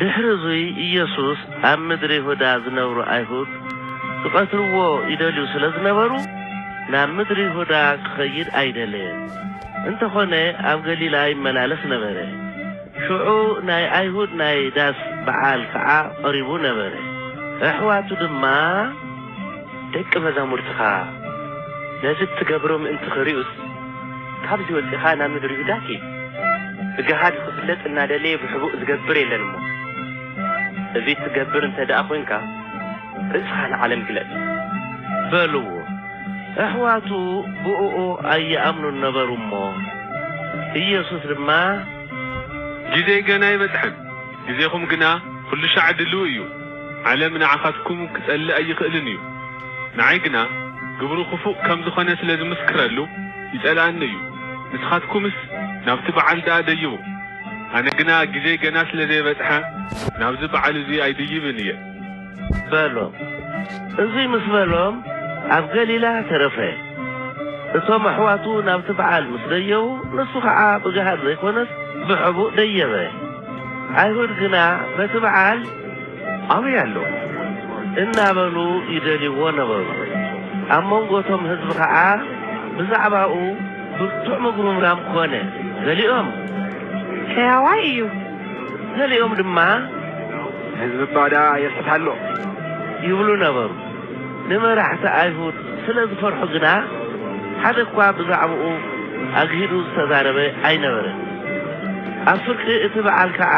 ድሕሪ እዙይ ኢየሱስ ኣብ ምድሪ ይሁዳ ዝነብሩ ኣይሁድ ክቐትልዎ ይደልዩ ስለ ዝነበሩ ናብ ምድሪ ይሁዳ ክኸይድ ኣይደለየን። እንተኾነ ኣብ ገሊላ ይመላለስ ነበረ። ሽዑ ናይ ኣይሁድ ናይ ዳስ በዓል ከዓ ቐሪቡ ነበረ። ኣሕዋቱ ድማ። ደቂ መዛሙርትኻ ነዚ እትገብሮ ምእንቲ ኽሪኡስ፣ ካብዚ ወጺኻ ናብ ምድሪ ይሁዳ ኪድ። ብገሃድ ንኽፍለጥ እናደለየ ብሕቡእ ዚገብር የለን እሞ፣ እዙይ እትገብር እንተ ደኣ ኾይንካ፣ ርእስኻ ንዓለም ግለጽ። በልዎ። ኣሕዋቱ ብእኡ ኣይኣምኑን ነበሩ እሞ፣ ኢየሱስ ድማ። ጊዜይ ገና ኣይበጽሐን። ግዜኹም ግና ኩሉሻዕ ድሉው እዩ። ዓለም ንዓኻትኩም ክጸልእ ኣይኽእልን እዩ። ንዓይ ግና ግብሩ ክፉእ ከም ዝኾነ ስለ ዝምስክረሉ ይጸልኣኒ እዩ። ንስኻትኩምስ ናብቲ በዓል ደኣ ደይቡ። ኣነ ግና ግዜይ ገና ስለ ዘይበጽሐ ናብዚ በዓል እዙይ ኣይድይብን እየ። በሎ። እዙይ ምስ በሎም ኣብ ገሊላ ተረፈ። እቶም ኣሕዋቱ ናብቲ በዓል ምስ ደየቡ ንሱ ኸዓ ብገሃድ ዘይኮነስ ብሕቡእ ደየበ። ኣይሁድ ግና በቲ በዓል ኣበይ ኣሎ? እናበሉ ይደልይዎ ነበሩ። ኣብ መንጎ እቶም ህዝቢ ኸዓ ብዛዕባኡ ብርቱዕ ምጉርምራም ኮነ። ገሊኦም። ሕያዋይ እዩ! ገሊኦም ድማ ንህዝቢ ባዳ የስሕት ኣሎ ይብሉ ነበሩ። ንመራሕቲ ኣይሁድ ስለ ዝፈርሑ ግና ሓደ እኳ ብዛዕባኡ ኣግሂዱ ዝተዛረበ ኣይነበረን። ኣብ ፍርቂ እቲ በዓል ከኣ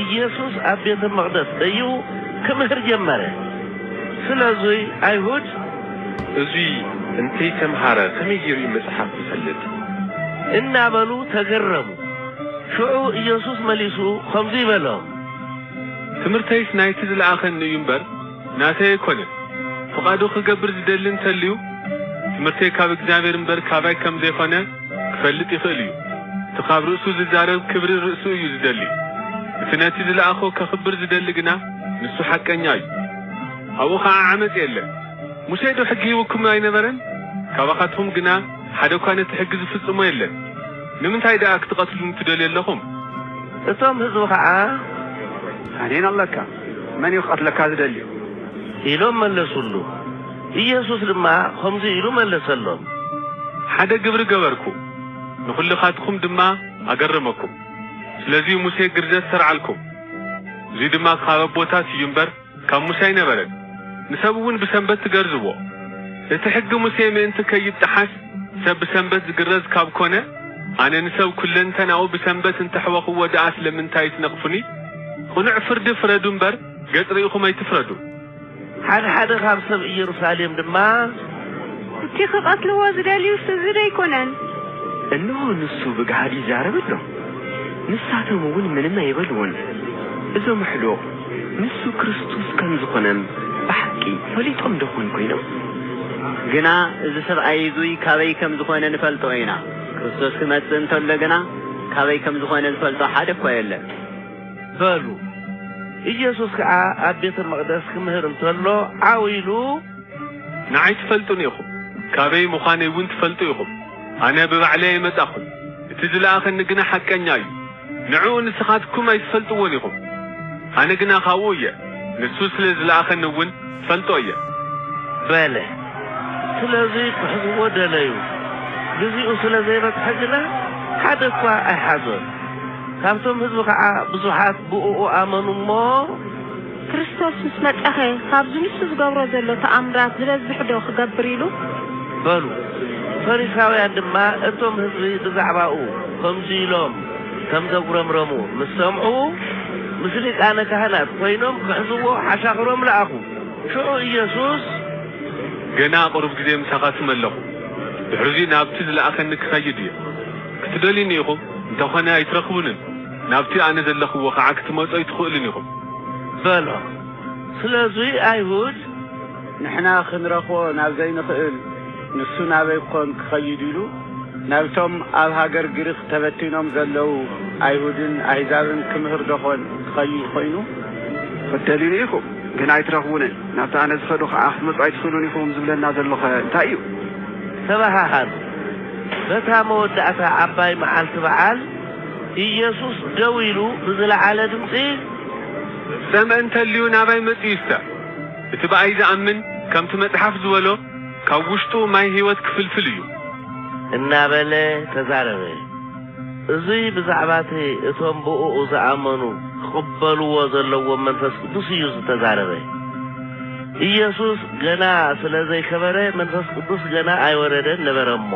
ኢየሱስ ኣብ ቤተ መቕደስ ደይቡ ክምህር ጀመረ። ስለዙይ ኣይሁድ። እዙይ እንተይተምሃረ ከመይ ገይሩ እዩ መጽሓፍ ዝፈልጥ? እናበሉ ተገረሙ። ሽዑ ኢየሱስ መሊሱ ኸምዙይ በሎም። ትምህርተይስ ናይቲ ዝለኣኸኒ እዩ እምበር፣ ናተይ ኣይኮነን። ፍቓዱ ኽገብር ዝደሊ እንተልዩ፣ ትምህርተይ ካብ እግዚኣብሔር እምበር ካባይ ከም ዘይኾነ ክፈልጥ ይኽእል እዩ። እቲ ኻብ ርእሱ ዝዛረብ ክብሪ ርእሱ እዩ ዝደሊ። እቲ ነቲ ዝለኣኾ ከኽብር ዝደሊ ግና ንሱ ሓቀኛ እዩ። ኣብኡ ኸዓ ዓመፅ የለን። ሙሴዶ ሕጊ ሂቡኩም ኣይነበረን? ካባኻትኹም ግና፣ ሓደ እኳ ነቲ ሕጊ ዝፍጽሞ የለን። ንምንታይ ደኣ ክትቐትሉኒ ትደልዩ ኣለኹም? እቶም ህዝቢ ኸኣ፣ ኣኔን ኣለካ፣ መን እዩ ክቐትለካ ዝደሊ? ኢሎም መለሱሉ። ኢየሱስ ድማ ኸምዙይ ኢሉ መለሰሎም። ሓደ ግብሪ ገበርኩ፣ ንዅልኻትኩም ድማ ኣገረመኩም። ስለዙይ ሙሴ ግርዘት ሰርዓልኩም፣ እዙይ ድማ ካብ ኣቦታት እዩ እምበር፣ ካብ ሙሴ ኣይነበረን፣ ንሰብ እውን ብሰንበት ትገርዝዎ። እቲ ሕጊ ሙሴ ምእንቲ ከይጠሓስ ሰብ ብሰንበት ዝግረዝ ካብ ኮነ፣ ኣነ ንሰብ ኩለንተናኡ ብሰንበት እንተ ኣሕወኽዎ ደኣ ስለምንታይ ትነቕፉኒ? ቕኑዕ ፍርዲ ፍረዱ እምበር፣ ገጽ ርኢኹም ኣይትፍረዱ። ሓደ ሓደ ኻብ ሰብ እየሩሳሌም ድማ። እቲ ኺቐትልዎ ዝደልዩስ እዚ ዶ ኣይኰነን? እንሆ፣ ንሱ ብግሃድ ይዛረብ ኣሎ፣ ንሳቶም እውን ምንም ኣይበልዎን። እዞም ኣሕሉቕ። ንሱ ክርስቶስ ከም ዝዀነም ብሓቂ ፈሊጦምዶ ዀን ኰይኖም? ግና እዚ ሰብኣይ እዙይ ካበይ ከም ዝዀነ ንፈልጦ ኢና። ክርስቶስ ክመጽእ እንተሎ ግና፣ ካበይ ከም ዝዀነ ዝፈልጦ ሓደ እኳ የለን። በሉ። ኢየሱስ ከኣ ኣብ ቤተ መቕደስ ክምህር እንተሎ ዓው ኢሉ። ንዓይ ትፈልጡኒ ኢኹም፣ ካበይ ምዃነይውን ትፈልጡ ኢኹም። ኣነ ብባዕለይ ኣይመጻኹን፣ እቲ ዝለኣኸኒ ግና ሓቀኛ እዩ። ንዕኡ ንስኻትኩም ኣይትፈልጥዎን ኢኹም፣ ኣነ ግና ኻብኡ እየ፣ ንሱ ስለ ዝለኣኸኒ እውን እፈልጦ እየ። በለ። ስለዚ ኪሕዝዎ ደለዩ፣ ግዜኡ ስለ ዘይበጽሐ ግና፣ ሓደ እኳ ኣይሓዞን። ካብቶም ህዝቢ ኸዓ ብዙሓት ብእኡ ኣመኑ እሞ፣ ክርስቶስ ምስ መጸኸ ካብዚ ንሱ ዝገብሮ ዘሎ ተኣምራት ዝበዝሕዶ ክገብር ኢሉ? በሉ። ፈሪሳውያን ድማ እቶም ህዝቢ ብዛዕባኡ ከምዚ ኢሎም ከም ዘጉረምረሙ ምስ ሰምዑ፣ ምስ ሊቃነ ካህናት ኮይኖም ክሕዝዎ ሓሻኽሮም ለኣኹ። ሽዑ ኢየሱስ። ገና ቅሩብ ግዜ ምሳኻትኩም ኣለኹ፣ ድሕርዚ ናብቲ ዝለኣኸኒ ክኸይድ እየ። ክትደልዩኒ ኢኹም፣ እንተኾነ ኣይትረኽቡንን። ናብቲ ኣነ ዘለኽዎ ኸዓ ክትመጹ ኣይትኽእሉን ኢኹም። በሎ። ስለዙይ ኣይሁድ ንሕና ኽንረኽቦ ናብ ዘይንኽእል ንሱ ናበይ ኰን ክኸይድ ኢሉ ናብቶም ኣብ ሃገር ግሪኽ ተበቲኖም ዘለዉ ኣይሁድን ኣህዛብን ክምህርዶ ዀን ክኸይድ ዀይኑ? ኽትደልዩኒ ኢኹም ግን ኣይትረኽቡንን፣ ናብቲ ኣነ ዝኸዶ ኸዓ ክትመጹ ኣይትኽእሉን ኢኹም ዝብለና ዘሎኸ እንታይ እዩ? ተበሃሃሉ። በታ መወዳእታ ዓባይ መዓልቲ በዓል። ኢየሱስ ደው ኢሉ ብዝለዓለ ድምጺ። ዝሰምዐ እንተልዩ ናባይ መጺኡ ይስተዕ፣ እቲ ብኣይ ዝኣምን ከምቲ መጽሓፍ ዝበሎ ካብ ውሽጡ ማይ ሕይወት ክፍልፍል እዩ። እናበለ ተዛረበ። እዙይ ብዛዕባ እቲ እቶም ብእኡ ዝኣመኑ ክቕበልዎ ዘለዎም መንፈስ ቅዱስ እዩ ዝተዛረበ። ኢየሱስ ገና ስለ ዘይከበረ መንፈስ ቅዱስ ገና ኣይወረደን ነበረ እሞ።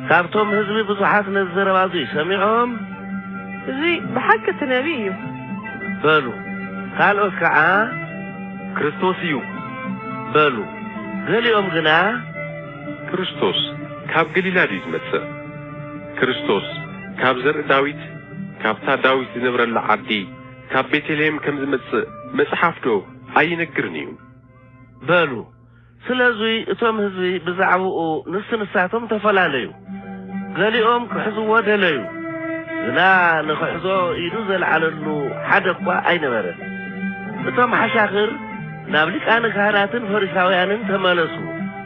ካብቶም ህዝቢ ብዙሓት ነዚ ዘረባ እዙይ ሰሚዖም። እዙይ ብሓቂ እቲ ነቢይ እዩ። በሉ። ካልኦት ከዓ ክርስቶስ እዩ በሉ። ገሊኦም ግና። ክርስቶስ ካብ ገሊላ ድዩ ዝመፅእ? ክርስቶስ ካብ ዘርኢ ዳዊት፣ ካብታ ዳዊት ዝነብረላ ዓዲ፣ ካብ ቤተልሄም ከም ዝመፅእ መፅሓፍ ዶ ኣይነግርን እዩ? በሉ። ስለዙይ እቶም ህዝቢ ብዛዕብኡ ንስ ንሳቶም ተፈላለዩ። ገሊኦም ክሕዝዎ ደለዩ፣ ግና ንክሕዞ ኢዱ ዘልዓለሉ ሓደ እኳ ኣይነበረን። እቶም ሓሻኽር ናብ ሊቃነ ካህናትን ፈሪሳውያንን ተመለሱ፣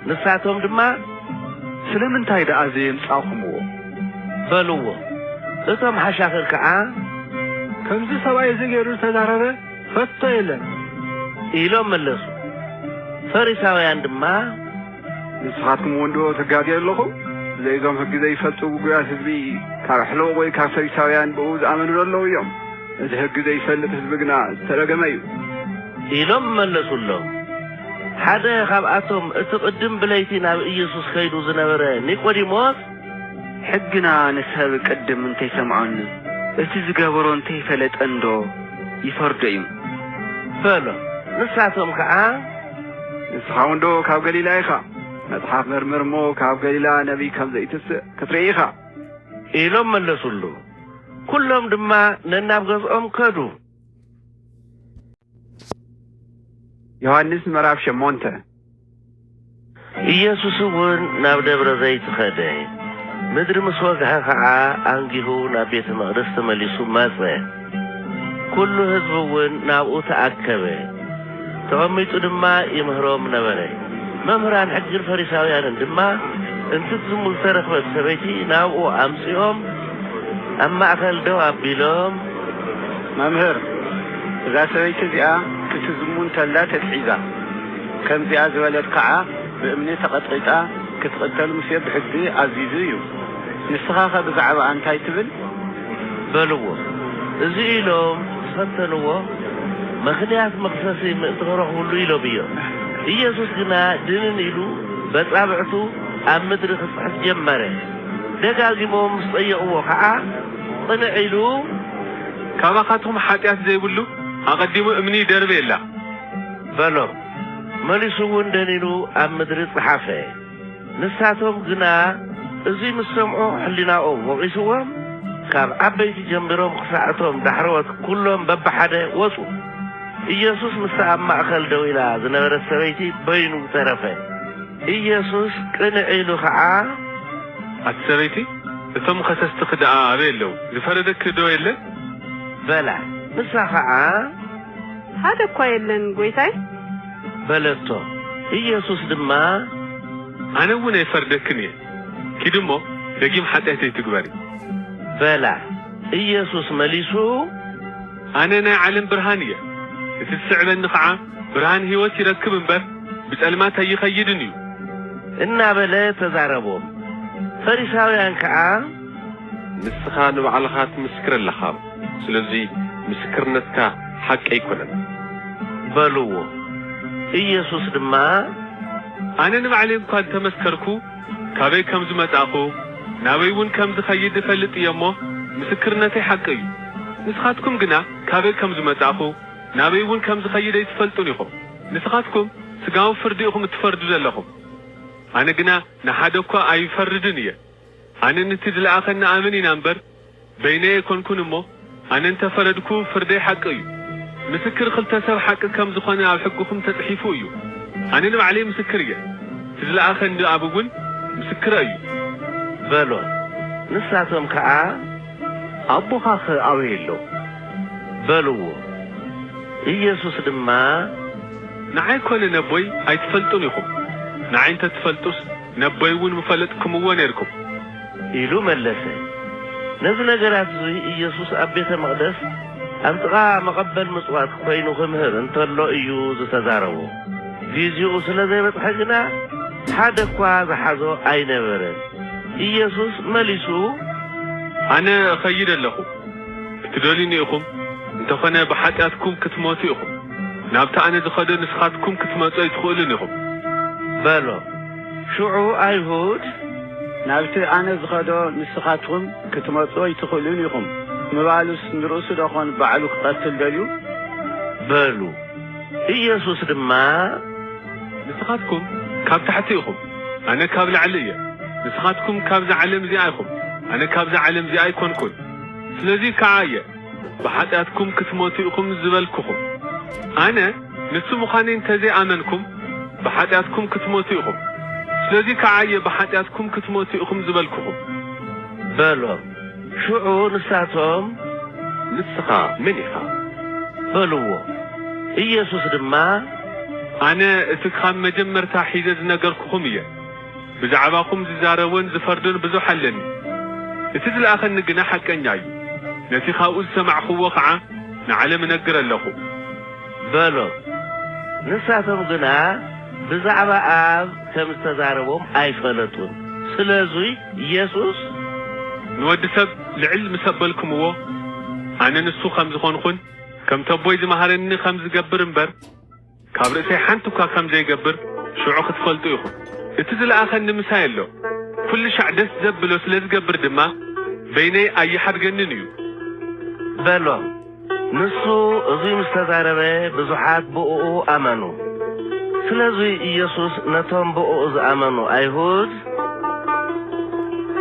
ንሳቶም ድማ። ስለምንታይ ደኣ ዘየምጻእኹምዎ? በልዎ። እቶም ሓሻኽር ከዓ። ከምዚ ሰብኣይ እዚ ገይሩ ዝተዛረበ? ከቶ የለን ኢሎም መለሱ። ፈሪሳውያን ድማ ንስኻትኩም ወንዶ ትጋገዩ ኣለኹም ዘይዞም ሕጊ ዘይፈልጡ ጉጉያት ህዝቢ ካብ ኣሕለቕ ወይ ካብ ፈሪሳውያን ብኡ ዝኣመኑ ዘለዉ እዮም እቲ ሕጊ ዘይፈልጥ ህዝቢ ግና ዝተረገመ እዩ ኢሎም መለሱሎም። ሓደ ካብኣቶም እቲ ቅድም ብለይቲ ናብ ኢየሱስ ከይዱ ዝነበረ ኒቆዲሞስ ሕግና ንሰብ ቅድም እንተይሰምዖን እቲ ዝገበሮ እንተይፈለጠንዶ ይፈርዶ እዩ? በሎም። ንሳቶም ከኣ። ንስኻውንዶ ካብ ገሊላ ኢኻ? መጽሓፍ መርምር እሞ ካብ ገሊላ ነቢይ ከም ዘይትስእ ክትርኢ ኢኻ። ኢሎም መለሱሉ። ኩሎም ድማ ነናብ ገዝኦም ከዱ። ዮሃንስ ምዕራፍ ሸሞንተ ኢየሱስውን ናብ ደብረ ዘይት ኸደ፣ ምድሪ ምስ ወግሐ ኸዓ ኣንጊሁ ናብ ቤተ መቕደስ ተመሊሱ መጸ። ኵሉ ሕዝቢውን ናብኡ ተኣከበ፣ ተቐሚጡ ድማ ይምህሮም ነበረ። መምህራን ሕግን ፈሪሳውያንን ድማ እንትትዝሙ ዝተረኽበት ሰበይቲ ናብኡ ኣምጺኦም ኣብ ማእከል ደው ኣቢሎም። መምህር፣ እዛ ሰበይቲ እዚኣ ክትዝሙ እንተላ ተትሒዛ። ከምዚኣ ዝበለት ከኣ ብእምኒ ተቐጥቒጣ ክትቕተል ሙሴ ብሕጊ ኣዚዙ እዩ። ንስኻኸ ብዛዕባኣ እንታይ ትብል? በልዎ። እዚ ኢሎም ዝኸተልዎ ምኽንያት መኽሰሲ ምእንቲ ክረኽብሉ ኢሎም እዮም። ኢየሱስ ግና ድንን ኢሉ በጻብዕቱ ኣብ ምድሪ ክጽሕፍ ጀመረ። ደጋጊሞም ምስ ጠየቕዎ ከኣ ቅንዕ ኢሉ። ካባኻትኩም ሓጢኣት ዘይብሉ ኣቐዲሙ እምኒ ይደርብየላ። በሎ። መሊሱ እውን ደኒኑ ኣብ ምድሪ ጸሓፈ። ንሳቶም ግና እዙይ ምስ ሰምዑ ሕሊናኦም ወቒስዎም፣ ካብ ዓበይቲ ጀሚሮም ክሳዕ እቶም ዳሕረዎት ኵሎም በብሓደ ወጹ። ኢየሱስ ምስታ ኣብ ማእከል ደው ኢላ ዝነበረት ሰበይቲ በይኑ ተረፈ። ኢየሱስ ቅንዕ ኢሉ ኸዓ። ኣቲ ሰበይቲ፣ እቶም ኸሰስትኺ ደኣ ኣበይ ኣለዉ? ዝፈረደኪዶ የለን? በላ። ንሳ ኸዓ። ሓደ እኳ የለን ጐይታይ። በለቶ። ኢየሱስ ድማ። ኣነ እውን ኣይፈርደክን እየ፣ ኪዲ እሞ ደጊም ሓጢኣት ኣይትግበሪ። በላ። ኢየሱስ መሊሱ። ኣነ ናይ ዓለም ብርሃን እየ፣ እቲ ዝስዕበኒ ኸዓ ብርሃን ህይወት ይረክብ እምበር፣ ብጸልማት ኣይኸይድን እዩ። እናበለ ተዛረቦም። ፈሪሳውያን ከኣ። ንስኻ ንባዕልኻ ትምስክር ኣለኻ። ስለዚ ምስክርነትካ ሓቂ ኣይኮነን። በልዎ። ኢየሱስ ድማ። ኣነ ንባዕለይ እኳ እንተ መስከርኩ፣ ካበይ ከም ዝመጻእኩ፣ ናበይውን ከም ዝኸይድ እፈልጥ እየ እሞ፣ ምስክርነተይ ሓቂ እዩ። ንስኻትኩም ግና ካበይ ከም ዝመጻእኩ፣ ናበይውን ከም ዝኸይድ ኣይትፈልጡን ኢኹም። ንስኻትኩም ስጋዊ ፍርዲ ኢኹም እትፈርዱ ዘለኹም፣ ኣነ ግና ንሓደ እኳ ኣይፈርድን እየ። ኣነ ንቲ ዝለኣኸኒ ኣምን ኢና እምበር፣ በይነይ ኣይኮንኩን እሞ ኣነ እንተ ፈረድኩ ፍርደይ ሓቂ እዩ ምስክር ክልተ ሰብ ሓቂ ከም ዝኮነ ኣብ ሕግኩም ተጽሒፉ እዩ ኣነ ንባዕለይ ምስክር እየ እቲ ዝለኣከኒ ኣብ እውን ምስክረ እዩ በሎ ንሳቶም ከኣ ኣቦካከ ኣበይ ኣሎ በልዎ ኢየሱስ ድማ። ንዓይ ኮነ ነቦይ ኣይትፈልጡን ኢኩም ንዓይ እንተ ትፈልጡስ ነቦይውን ምፈለጥክምዎ ኔርኩም። ኢሉ መለሰ። ነዚ ነገራት'ዚ ኢየሱስ ኣብ ቤተ መቕደስ ኣብ ጥቓ መቐበል ምጽዋት ኮይኑ ክምህር እንተሎ እዩ ዝተዛረቦ። ጊዜኡ ስለ ዘይበጽሐ ግና ሓደ እኳ ዝሓዞ ኣይነበረን። ኢየሱስ መሊሱ። ኣነ እኸይድ ኣለኹ። ክትደልዩኒ ኢኹም፣ እንተኾነ ብሓጢኣትኩም ክትሞቱ ኢኹም። ናብቲ ኣነ ዝኸዶ ንስኻትኩም ክትመጹ ኣይትኽእሉን ኢኹም። በሎ። ሽዑ ኣይሁድ፣ ናብቲ ኣነ ዝኸዶ ንስኻትኩም ክትመጹ ኣይትኽእሉን ኢኹም ምባሉስ ንርእሱዶ ዀን ባዕሉ ክቐትል ደልዩ? በሉ። ኢየሱስ ድማ። ንስኻትኩም ካብ ታሕቲ ኢኹም፣ ኣነ ካብ ላዕሊ እየ። ንስኻትኩም ካብዛ ዓለም እዚኣ ኢኹም፣ ኣነ ካብዛ ዓለም እዚኣ ኣይኰንኩን። ስለዚ ከኣ እየ። ብኃጢኣትኩም ክትሞቱ ኢኹም ዝበልኩኹም፣ ኣነ ንሱ ምዃነይ እንተ ዘይኣመንኩም፣ ብኃጢኣትኩም ክትሞቱ ኢኹም። ስለዙይ ከዓ እየ ብኃጢኣትኩም ክትሞቱ ኢኹም ዝበልኩኹም። በሎም። ሽዑ ንሳቶም። ንስኻ መን ኢኻ? በልዎ። ኢየሱስ ድማ። ኣነ እቲ ኻብ መጀመርታ ኂዘ ዝነገርኩኹም እየ። ብዛዕባኹም ዚዛረብን ዚፈርድን ብዙሕ ኣለኒ፣ እቲ ዝለኣኸኒ ግና ሓቀኛ እዩ፣ ነቲ ኻብኡ ዝሰማዕክዎ ኸዓ ንዓለም እነግር ኣለኹ። በሎ። ንሳቶም ግና ብዛዕባ ኣብ ከም ዝተዛረቦም ኣይፈለጡን፣ ስለዙይ ኢየሱስ። ንወዲ ሰብ ልዕል ምስ ኣበልክምዎ፣ ኣነ ንሱ ኸም ዝኾንኹን ከምቲ ኣቦይ ዝመሃረኒ ኸም ዝገብር እምበር፣ ካብ ርእሰይ ሓንቲ እኳ ከም ዘይገብር ሽዑ ክትፈልጡ ኢኹም። እቲ ዝለኣኸኒ ምሳይ ኣሎ፣ ኵልሻዕ ደስ ዘብሎ ስለ ዝገብር ድማ፣ በይነይ ኣይሓድገንን እዩ። በሎ። ንሱ እዙይ ምስ ተዛረበ፣ ብዙሓት ብእኡ ኣመኑ። ስለዙይ ኢየሱስ ነቶም ብእኡ ዝኣመኑ ኣይሁድ።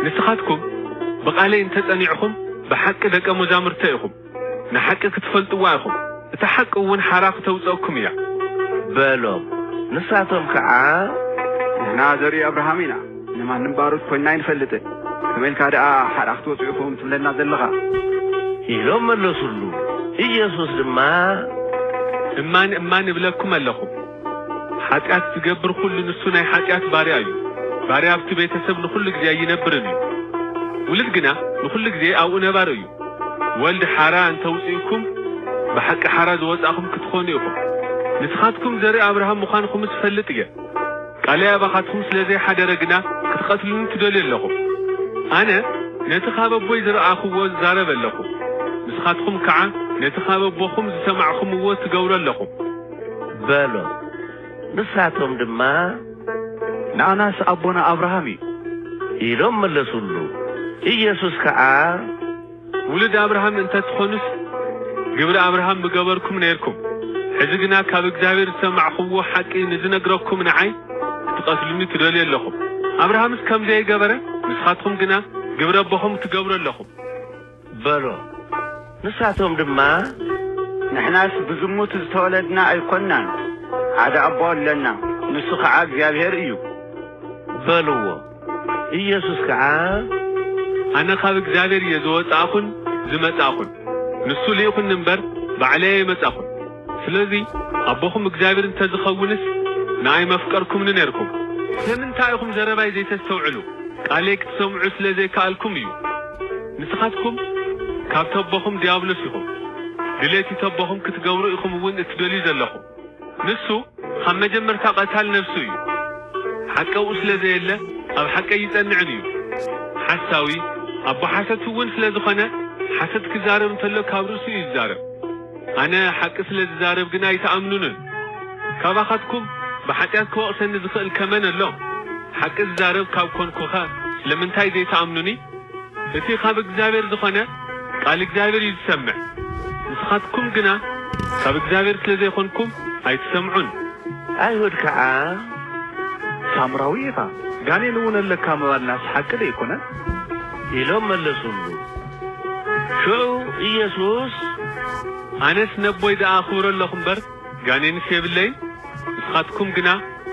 ንስኻትኩም ብቓለይ እንተ ጸኒዕኹም፣ ብሓቂ ደቀ መዛሙርተይ ኢኹም። ንሓቂ ክትፈልጥዋ ኢኹም፣ እታ ሓቂ እውን ሓራ ክተውጸእኩም እያ። በሎም። ንሳቶም ከኣ። ንሕና ዘርኢ ኣብርሃም ኢና፣ ንማንም ባሮት ኮይንና ኣይንፈልጥን፣ ከመይ ኢልካ ደኣ ሓራ ክትወጽኡ ኢኹም ትብለና ዘለኻ? ኢሎም መለሱሉ። ኢየሱስ ድማ። እማን እማን እብለኩም ኣለኹ፣ ሓጢኣት ዚገብር ዅሉ ንሱ ናይ ሓጢኣት ባርያ እዩ። ባርያ ኣብቲ ቤተ ሰብ ንዅሉ ግዜ ኣይነብርን እዩ፣ ውሉድ ግና ንዅሉ ግዜ ኣብኡ ነባሪ እዩ። ወልድ ሓራ እንተውጺእኩም ብሓቂ ሓራ ዝወጻእኹም ክትኾኑ ኢኹም። ንስኻትኩም ዘርኢ ኣብርሃም ምዃንኹምስ እፈልጥ እየ። ቃለይ ኣባኻትኩም ስለ ዘይሓደረ ግና ክትቐትሉኒ ትደልዩ ኣለኹም። ኣነ ነቲ ካብ ኣቦይ ዝረኣኹዎ እዛረብ ኣለኹ፣ ንስኻትኩም ከዓ ነቲ ካብ ኣቦኹም ዝሰማዕኹምዎ ትገብሩ ኣለኹም። በሎ። ንሳቶም ድማ። ንኣናስ ኣቦና ኣብርሃም እዩ። ኢሎም መለሱሉ። ኢየሱስ ከኣ። ውሉድ ኣብርሃም እንተ ትኾኑስ፣ ግብሪ ኣብርሃም ምገበርኩም ኔርኩም። ሕዚ ግና ካብ እግዚኣብሔር ዝሰማዕኩምዎ ሓቂ ንዝነግረኩም ንዓይ ክትቐትሉኒ ትደልዩ ኣሎኹም። ኣብርሃምስ ከም ዘየገበረ ንስኻትኩም ግና ግብሪ ኣቦኹም ትገብሩ ኣሎኹም። በሎ። ንሳቶም ድማ። ንሕናስ ብዝሙት ዝተወለድና ኣይኮንናን፣ ሓደ ኣቦ ኣሎና፣ ንሱ ኸዓ እግዚኣብሄር እዩ። በልዎ። ኢየሱስ ከዓ። ኣነ ኻብ እግዚኣብሄር እየ ዝወጻእኹን ዝመጻእኹን፣ ንሱ ልኢኹኒ እምበር፣ ባዕለይ ኣይመጻእኹን። ስለዚ ኣቦኹም እግዚኣብሔር እንተ ዝኸውንስ ንኣይ መፍቀርኩምኒ ኔርኩም። ስለምንታይ ኢኹም ዘረባይ ዘይተስተውዕሉ? ቃለይ ክትሰምዑ ስለ ዘይከኣልኩም እዩ። ንስኻትኩም ካብ ተቦኹም ድያብሎስ ኢኹም፣ ድሌቲ ተቦኹም ክትገብሩ ኢኹም እውን እትደልዩ ዘለኹም። ንሱ ኻብ መጀመርታ ቐታል ነፍሱ እዩ። ሓቂ ኣብኡ ስለ ዘየለ ኣብ ሓቂ ኣይጸንዕን እዩ። ሓሳዊ፣ ኣቦ ሓሶት እውን ስለ ዝኾነ ሓሶት ክዛረብ እንተሎ ካብ ርእሱ እዩ ዝዛረብ። ኣነ ሓቂ ስለ ዝዛረብ ግና ኣይትኣምኑንን። ካባኻትኩም ብሓጢኣት ክወቕሰኒ ዝኽእል ከ መን ኣሎ? ሓቂ ዝዛረብ ካብ ኰንኩኸ ስለምንታይ ዘይትኣምኑኒ? እቲ ኻብ እግዚኣብሄር ዝዀነ፣ ቃል እግዚኣብሄር እዩ ዝሰምዕ። ንስኻትኩም ግና ካብ እግዚኣብሄር ስለ ዘይኰንኩም ኣይትሰምዑን። ኣይሁድ ከኣ፣ ሳምራዊ ኢኻ፣ ጋኔንውን ኣለካ ምባልናስ ሓቂ ደይኰነን? ኢሎም መለሱሉ። ሽዑ ኢየሱስ፣ ኣነስ ነቦይ ደኣ ኣኽብሮ ኣሎኹ እምበር፣ ጋኔንስ የብለይን፣ ንስኻትኩም ግና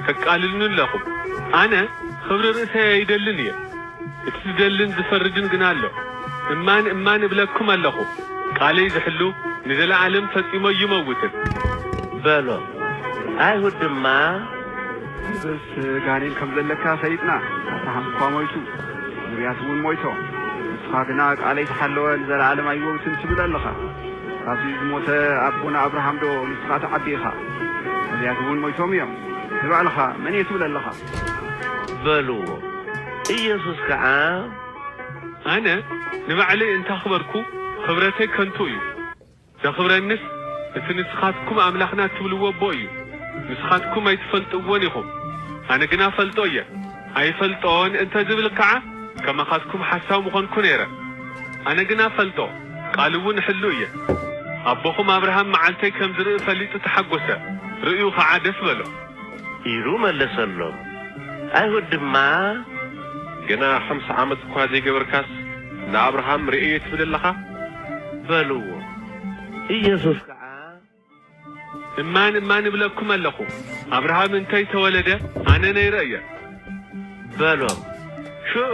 ተቃልሉኒ ኣሎኹም። ኣነ ኽብሪ ርእሰይ ኣይደልን እየ፣ እቲ ዝደልን ዝፈርድን ግና ኣሎ። እማን እማን እብለኩም ኣሎኹ፣ ቃለይ ዝሕሉ ንዘለዓለም ፈጺሙ ኣይመውትን። በሎ። ኣይሁድ ድማ። ንስስ ጋኔን ከም ዘለካ ፈሊጥና ኣታ ሃንኳ ሞይቱ ንብያት እውን ሞይቶም ንስኻ ግና ቃለይ ተሓለወ ንዘለኣለም ኣይወውትን ትብል ኣለኻ ካብዚ ዝሞተ ኣቦና ኣብርሃም ዶ ንስኻ ትዓቢ ኢኻ ነብያት እውን ሞይቶም እዮም ንባዕልኻ መን እየ ትብል ኣለኻ። በልዎ ኢየሱስ ከኣ። ኣነ ንባዕለይ እንተ ኣኽበርኩ ኽብረተይ ከንቱ እዩ። ዘኽብረኒስ እቲ ንስኻትኩም ኣምላኽና እትብልዎ ኣቦ እዩ፣ ንስኻትኩም ኣይትፈልጥዎን ኢኹም፣ ኣነ ግና እፈልጦ እየ፣ ኣይፈልጦን እንተ ዝብል ከዓ ከማኻትኩም ሓሳዊ ምኾንኩ ነይረ። ኣነ ግና እፈልጦ፣ ቃሉ እውን እሕሉ እየ። ኣቦኹም ኣብርሃም መዓልተይ ከም ዝርኢ ፈሊጡ ተሓጐሰ፣ ርእዩ ኸዓ ደስ በሎ። ኢሉ መለሰሎም። ኣይሁድ ድማ። ገና ሓምሳ ዓመት እኳ ዘይገበርካስ፣ ንኣብርሃም ርእየዮ ትብል ኣለኻ? በልዎ። ኢየሱስ ከኣ። እማን እማን እብለኩም ኣለኹ፣ ኣብርሃም እንተ ኣይተወለደ፣ ኣነ ነይረ እየ። በሎም። ሽዑ።